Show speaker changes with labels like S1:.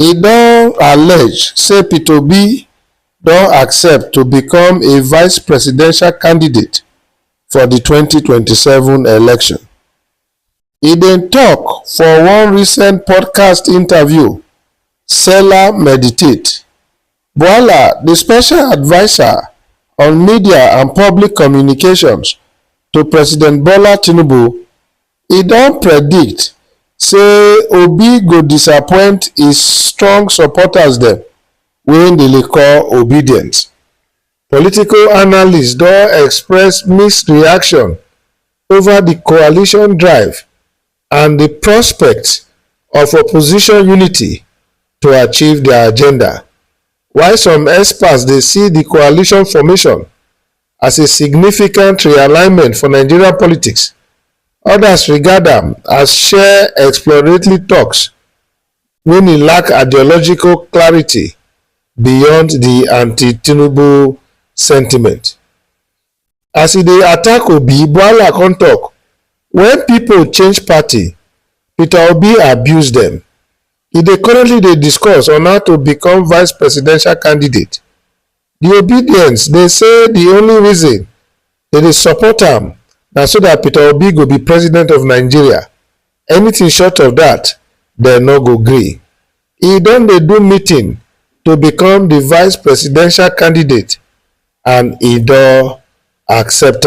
S1: E don allege say Peter Obi don accept to become a vice presidential candidate for di twenty twenty seven election. E bin tok for one recent podcast interview Sela Meditate, Bwala, di special adviser on media and public communications to President Bola Tinubu, E don predict say Obi go disappoint e strong supporters dem wey im dey call obedient. Political analysts don express mixed reaction over di coalition drive and di prospect of opposition unity to achieve dia agenda, while some experts dey see di coalition formation as a significant realignment for Nigerian politics, odas regard am as share exploratory toks wen e lack ideological clarity beyond di anti-Tinubu sentiment. As e dey attack Obi, Bwala come tok, Wen pipo change party, Peter Obi abuse dem. E dey currently dey discuss on how to become vice presidential candidate. Di Obidients dey say di only reason dem dey support am na so dat Peter Obi go be president of Nigeria, anything short of dat dem no go gree. E don dey do meeting to become di vice presidential candidate and e don accept am.